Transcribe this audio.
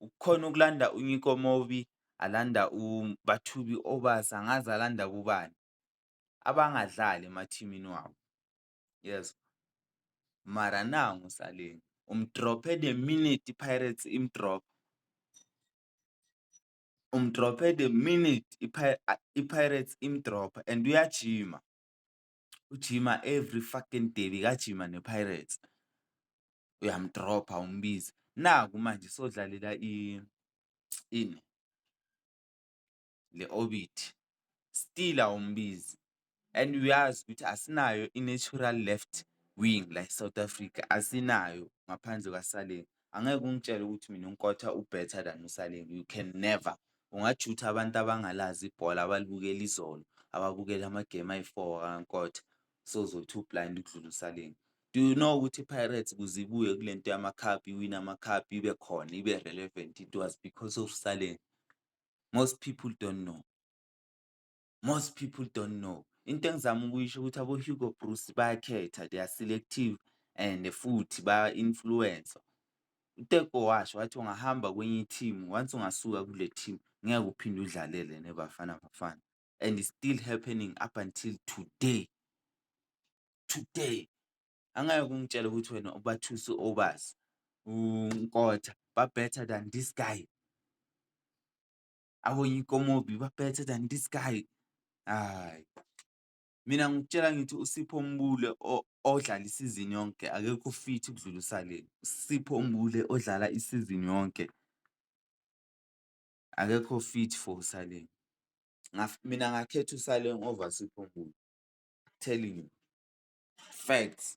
Kukhona ukulanda uNyiko Mobi, alanda uBathubi Obasa, angazi alanda kubani abangadlali emathimini wabo yezwa. Mara nangu uSaleng umdrophe the minute iPirates imdropha, umdrophe the minute iPirates imdropha and uyajima. ujima every fucking day bekajima nePirates uyamdropha umbize naku manje sodlalela i ini le orbit still awumbizi and uyazi ukuthi asinayo i-natural left wing la eSouth Africa asinayo ngaphandle kwaSaleng. angeke ungitshele ukuthi mina uNkotha u-better than uSaleng you can never ungajutha abantu abangalazi ibhola abalibukela izolo ababukela amagemu ayi-four kaNkotha sozothi u-blind ukudlula uSaleng do you know ukuthi i-pirates kuze ibuye kule nto yama-cup iwine ama-cup ibe khona ibe relevant it was because of Saleng most people don't know most people don't know. Into engizama ukuyisho ukuthi aboHugo Broos bayakhetha, they are selective and futhi baya-influencer. UTeko washo wathi ungahamba kwenye i-team, once ungasuka kule team ngeke uphinde udlalele neBafana Bafana and it's still happening up until today. Today. Angeke ungitshele ukuthi wena ubathuse obazi uNkotha ba-better than this guy. Abo yikomobi ba better than this guy. Hhayi. Mina ngikutshela ngithi uSipho Mbule odlala isizini yonke akekho fit ukudlula uSaleni. USipho Mbule odlala isizini yonke akekho fit for uSaleni. Mina ngakhetha uSaleng over Sipho Mbule. Telling you. Facts.